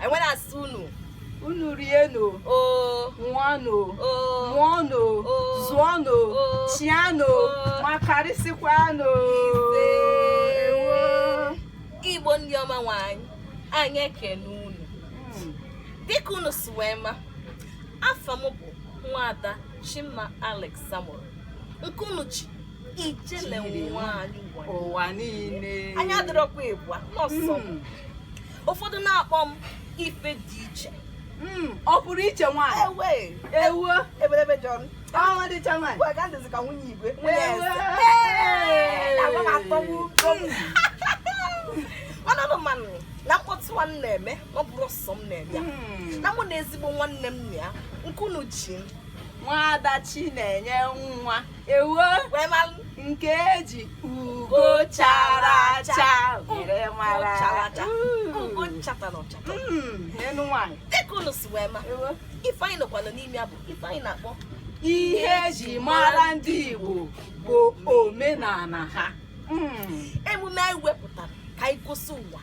anyị wee na-asị unu unu rienụ oo ṅụọnụ oo mụọnụ Oh. zụọnụ Oh. chịanụ Oh. ma karịsịkwanụ Ewo. igbo ndị ọma nwe anyị anyị ekene unu Mm. dịka unu si wee ma afa m bụ nwada chima alex samuel nke unu ji ijele Chiri. nwanyị ụwa ụwa niile anyị adịrọkwa ịbụa na ọ sọ m. Mm. ụfọdụ na-akpọ m ife dị iche hmm, ọ pụrụ iche nwaanyị ewe ewuo ebelebe jọn ọnwa dịcha nwaanyị gwa ga ndịzi ka nwunye igwe nwunye eze agwa m atọgbu unu manụ na mkpọtụ a m na-eme ọ bụrọ sọ m na-eme ya. Hmm. na mụ na ezigbo nwanne m na ya nke unu ji m nwaada chinenyenwa ewo nke eji ugo chara acha were mara enu nwanyị dịka unu si wee ma ife anyị nọkwanụ n'ime ya bụ ife anyị na-akpọ ihe eji mara ndị Igbo bụ omenala ha emume anyị wepụtara ka anyị gosi ụwa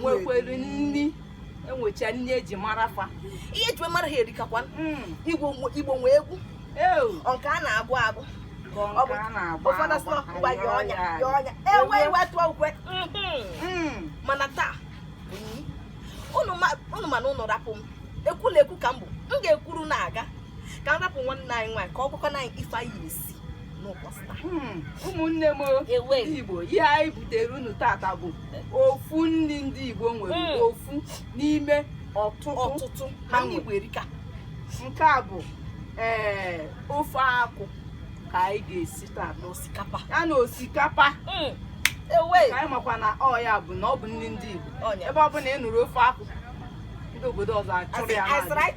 nwekwere nri enwecha nri eji mara fa ihe eji mara ha erikakwa hmm. igbo nwe egwu nke a na-agụ agụ ụfọdụ sọ ngwa ya ọnya ya ọnya ewe iwe tụọ ukwe hmm. mana taa unu ma na unu rapụ m ekwulekwu ka m bụ m ga-ekwuru na-aga ka m rapụ nwanne anyị nwaanyị ka ọ gwakwana anyị ife anyị na-esi n'ụbọchị taa Hmm, ụmụnne m o, ewe ndị igbo ihe anyị butere unu tata bụ ofu nri ndị igbo nwere Mm. ofu n'ime ọtụtụ ọtụtụ ha anyị nwere igbo erika nke a bụ ee ofe akwụ ka anyị ga-esi taa na osikapa ya na osikapa Mm, ewe ka anyị makwa na ọ ya bụ na ọ bụ nri ndị igbo ọnya ebe ọ bụla ị nụrụ ofe akwụ ndị obodo ọzọ achụrụ ya As in, as n'ala. right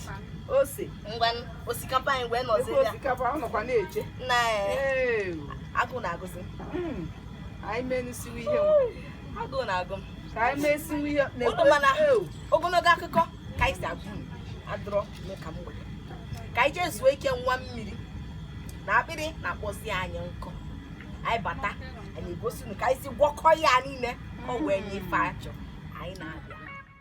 ose ngwa osikapa anyị wee nọzi ya osikapa ọ nọkwa na-eche na agụụ na-agụzi hmm. anyị menụ siwe ihe agụụ na-agụ m ka anyị mee siwe ihe ogologo akụkọ ka anyị si agwa unu adịrọ n'ụka mgbede ka anyị jee zuo ike ṅụa mmiri na akpịrị na-akpọzi anyị nkụ anyị bata anyị egosi unu ka anyị si gwọkọ ya niile ọ wee nye ife a chọ anyị na-abịa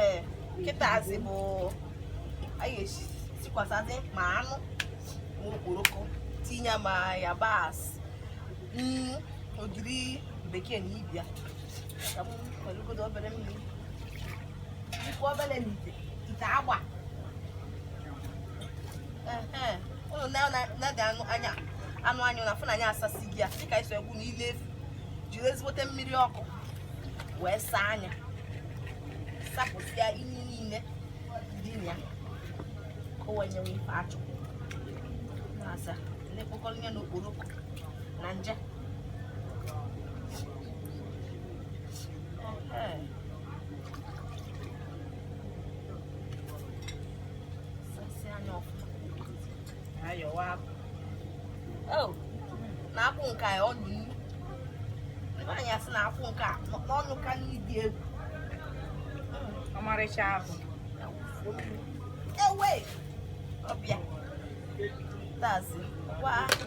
ee kịtazi bụ anyị ga-esikwasazị ma anụ ma okporoko tinye ma yabasị nnu ogiri bekee na ibia ka m weregodo obere mmiri ikwu obere n'ite ite agba ụnụ neede anụ anya anụ anyị unu afụ na anyị asasịgo ya dịka isi ewu na ile efi jiri ezigbote mmiri ọkụ wee saa ya sapụsịa ihe niile dị na ya ka o wee nyewe ife azụ na asa na-ekpokọrọ ihe na okporoko na nje Ehe. na akwụ nke a ọnụ nnu nwaanyị asị na akwụ nke a n'ọnụ ka nri dị egwu ọmarịcha ahụ ewe ọbịa tazi gwa ahụ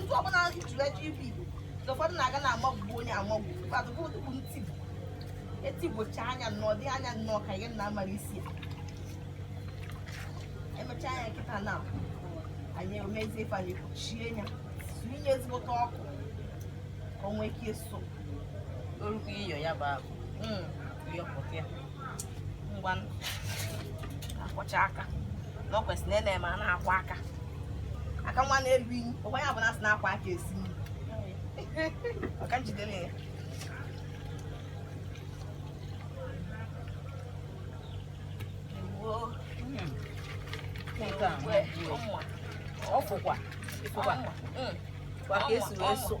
ndị ọbụla jụrụ eji ibu igbo ụfọdụ na-aga na-amagbu onye amagbu bụ ntị etigbocha anya nnọọ dị anya nnọọ ka ihe na amara isi ya emechaa ya kịta na anyị emezie ife anyị kpuchie ya tinye ezigbote ọkụ ka o nwee ike ịsụ orukwu iyo ya bụ ahụ hmm. ngwanụ akwọcha aka na ọ kwesịrị na na-eme a na-akwọ aka aka nwa na-eru inyi ọ ya bụ na asị na-akwọ aka esi nri maka nje dị na ya Ewoo. Ewoo. Ọmụma. ọfụkwa Ọmụma. Mm. kwa ka esi wee sụ-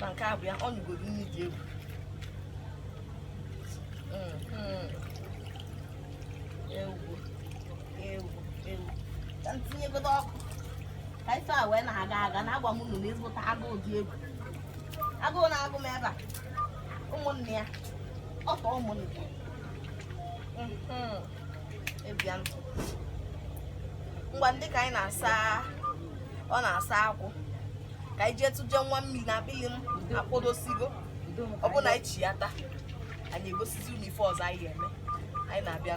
na nke a bụ ya ọ nyụgoro nri dị egwu mm-hmm. ewu ewu ewu ka m tinyegodo ọkụ ka ife a wee na-aga aga na agwa m unu na ezigbote agụụ dị egwu agụụ na-agụ m ebe a ụmụnne ya ọ tọọ ụmụnne ya mm-hmm. ngwa ndị ka anyị na-asa ọ na-asa akwụ ka anyị jee tụje nwa mmiri na akpịlị m akpọdosigo ọ bụ na anyị chi ya taa anyị egosizi unu ife ọzọ anyị ga-eme anyị na-abịa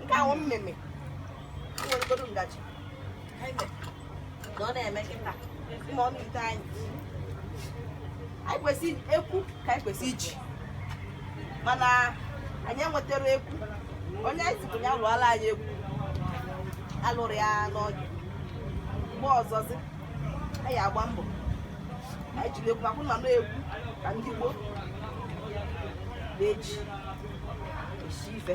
nke ahụ mee m weregodo ngaji na ọ na-eme kịta ma ọ na-ete anyị anyị kwesị eku ka anyị kwesị iji mana anyị enwetarọ eku onye anyị zipụ ya lụọla anyị eku alụrọ ya n'oge mgbe ọzọzi anyị agba mbọ anyị jiri eku akwụ na na eku ka ndị gboo na-eji esi ife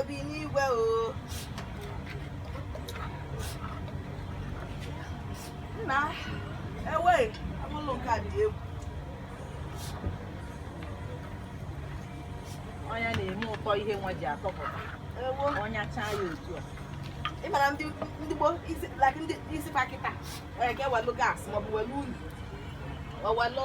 obi n'igwe o nna ewe ụlọ nke a dị egwu ọnya na-eme ụtọ ihe nwa ji atọpụta ọnya chaa ya otu a ị mara ndị gboo esi ya kịta ga-ewelu gas maọbụ welu unyi owelu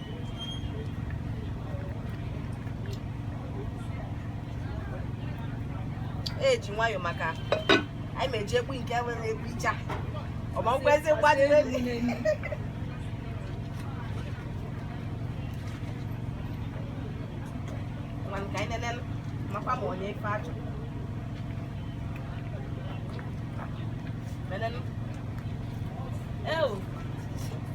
eji nwayọ maka anyị meji egbu nke nwere egbu icha ọmagwezi mgbadị ka anyị nene makwa ma o nye ife a chọ Menenu. Eu.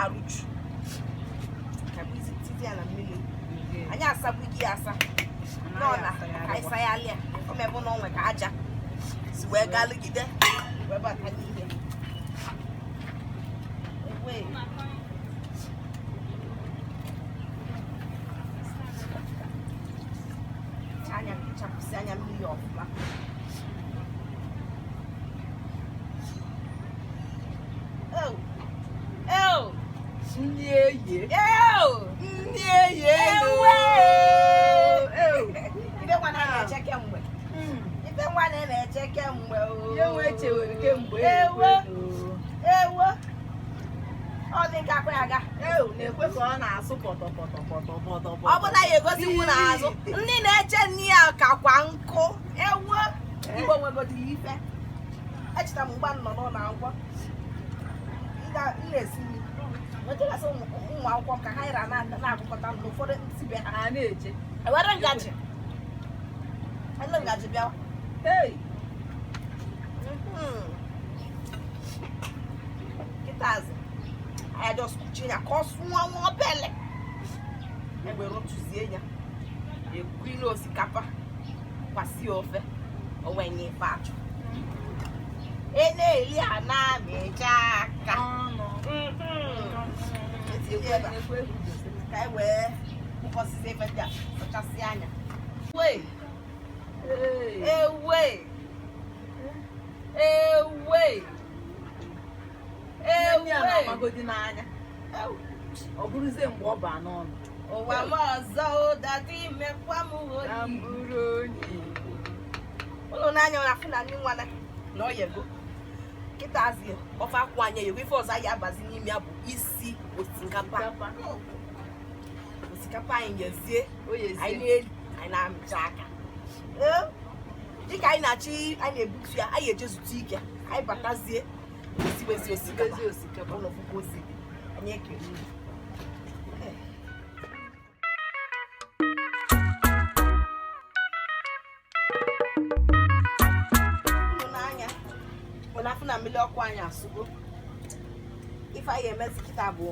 arụchu kabizi titi ya na mmiri anyị asagbughị ya asa nọ na ka anyị sayalịa o mebụ na o nwe ka aja si wee gaa lụgide wee bata n'ihe Wee. anyị achapụsịa ya mmiri ọfụma ọ bụla ya egosikwu n'azụ ndị na-eche nne ya kakwa nkụ ewo Igbo nwegodiri ife echeta m mgbe a nọ n'ụlọ akwụkwọ ụmụ akwụkwọ ka ha ra na-agụkọta na ụfọdụ si be ha na-eje ewere ngaji ele ngaji bịawa hey kịtazi anyị jọs kpuchie ya ka ọ sụọ nwa obele e wee rotuzie ya ekulu osikapa kwasị ofe o wee nye ife a chọ na-eli a na-amịcha aka ka e wee kpọkọsịzị ife ndị a kpachasị anya magodi n'anya ọ bụrụzie mgbe ọ baa n'ọnụ ụwa m ọzọ ụdadị mekwa m onye unu n'anya na-afụ na nni nwa a na o yego kịtazị ofe akwụ anyị eyego ife ọzọ anyị abazi n'ime ya bụ isi osikapa osikapa anyị yezie anyị na-eli anyị na-amịcha aka Ee, dịka anyị na-achị anyị na-ebutu ya anyị eje zute ike anyị batazie esiwezi osikapa ụlọ puku osi anyị ekele unu. na mmiri ọkụ anyị asụgo ife anyị emezi kịta bụ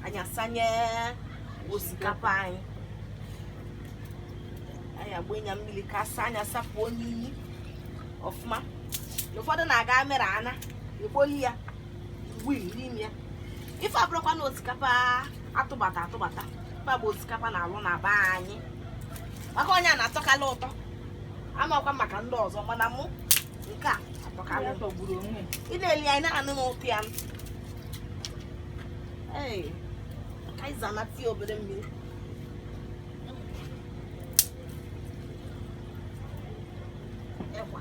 anyị asanye osikapa anyị anyị agbanye ya mmiri ka a saa anyị asapụ unyi ọfụma ụfọdụ na-aga mere a na-ekpoli ya mgbe iri ya ife abụrọkwa na osikapa atụbata atụbata mba ọ bụ osikapa a na-alụ na be anyị maka onye a na-atọkala ụtọ amakwa maka ndị ọzọ mana mụ nke a atọkala ụtọ gburu onwe ị na-eli ya ị na-anụ ụtọ ya ee ka anyị zanata ya obere mmiri ekwa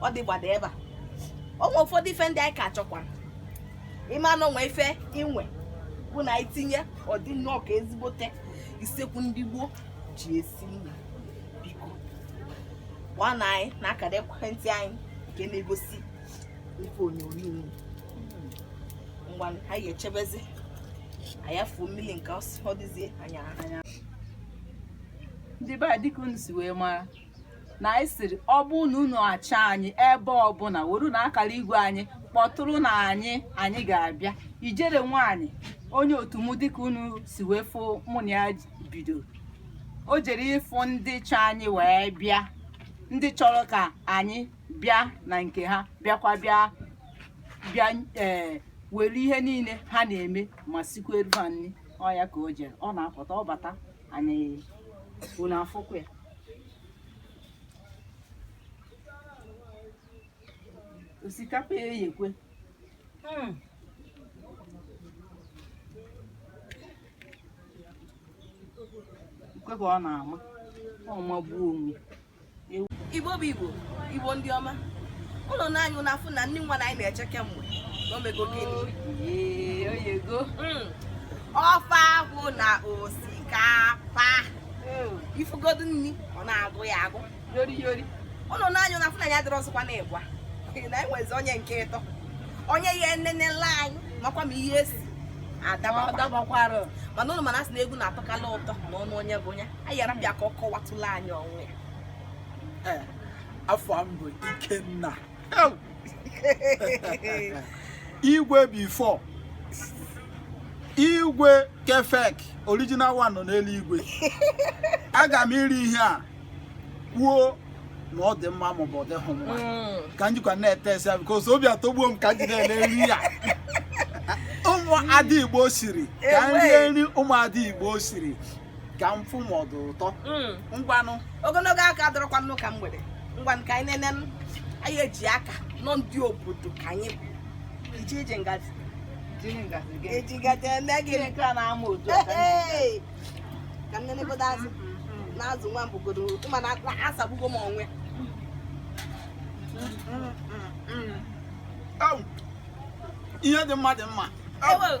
ọ dịgbada ebe a o nwe ụfọdụ ife ndị anyị ka chọkwara ịma na o nwe ife inwe bụ na anyị tinye ọ dị nnọọ ka ezigbote isekwu ndị gboo ji esi nri biko nwana anyị na akara ekwentị anyị nke na-egosi ife onyonyo ngwa anyị echebezi ya fuo mmiri nke ọ dịzie anya anya ndị be anyị dịka unu si wee mara na anyị sịrị ọ bụrụ na unu achọ anyị ebe ọbụla werenụ akara igwe anyị kpọtụrụnụ anyị anyị ga-abịa Ijele nwaanyị onye otu mụ dịka unu si wee fụ mụ na ya bido o jere ịfụ ndị chọ anyị wee bịa ndị chọrọ ka anyị bịa na nke ha bịakwa bịa bịa ee eh, were ihe niile ha na-eme ma sikwueru ha nri ọ ya ka o jere ọ na-apụta ọ bata anyị unu afụkwu ya osikapa eyekwe Hmm. nekwe ka ọ na-ama ọ magbuo onwe Igbo bụ Igbo Igbo ndị ọma unu na anya unu afụ na nni nwa a anyị na-eche kemgbe na o mego gịnị Ee, o yego Mm. ofe akwụ na osikapa ifugodu nri ọ na-agụ ya agụ yori yori ụnụ na anya na fụna ya dịrị ọzọkwa na ịgwa na enwezi onye nke atọ onye ya enenela anyị makwa ma ihe esi adabakwara mana ụnụ mana asị na egwu na-atọkala ụtọ na ọnụ onye bụ onye anyị ya-arapụ ya ka ọ kọwatụla anyị onwe ya afa m bụ ikenna igwe before igwe kefek original one nọ n'elu igwe aga m eri ihe a kwuo na ọ dị mma maọbụ ọ dịghị mma mm. ka m jikwa na-taste ya because obi atọgbuo m ka m je nele nri a ụmụada igbo siri ka m rie nri ụmụada igbo siri ka m fụ ma ọ dị ụtọ Mm. ngwanụ ogologo aka dọrọkwanụ ka m were ngwanụ ka anyị nene anyị eji aka na ndị obodo ka anyị bụ ije ije ngaji jiri ngazi gị eji ngaji eme gị Gịnị nke a na-ama otu a ka m- Hey! ka m nenegodo azụ na azụ nwa mbugodo ma na na asọgbugo m onwe Au! ihe dị mma dị mma Au! Ewe,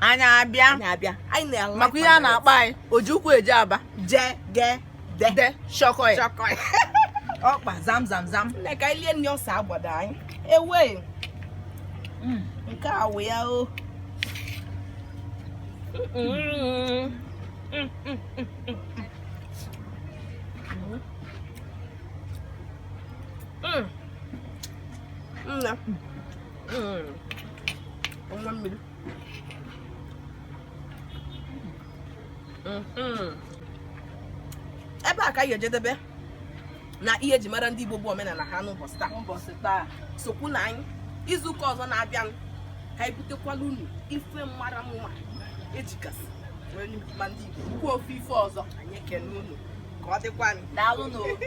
anyị abịa anyị abịa anyị na-ala maka ihe a na-akpọ anyị oji ụkwụ eje aba je ge de de shọkọ ya chọkọ ya ọkpa zam zam zam nne ka anyị lie nri ọsa agbada anyị ewe nke a wụ ya o nna nwa mmiri Mm-hmm. ebe a ka anyị ejedebe na ihe eji mara ndị Igbo bụ omenala ha n'ụbọchị taa ụbọchị taa sokwunụ anyị izu ụka ọzọ na-abịa ka anyị butekwala unu ife mara mma ejikasị ma ndị Igbo ukwu ofe ife ọzọ anyị ekene unu ka ọ dịkwa anyị daalụ n'obi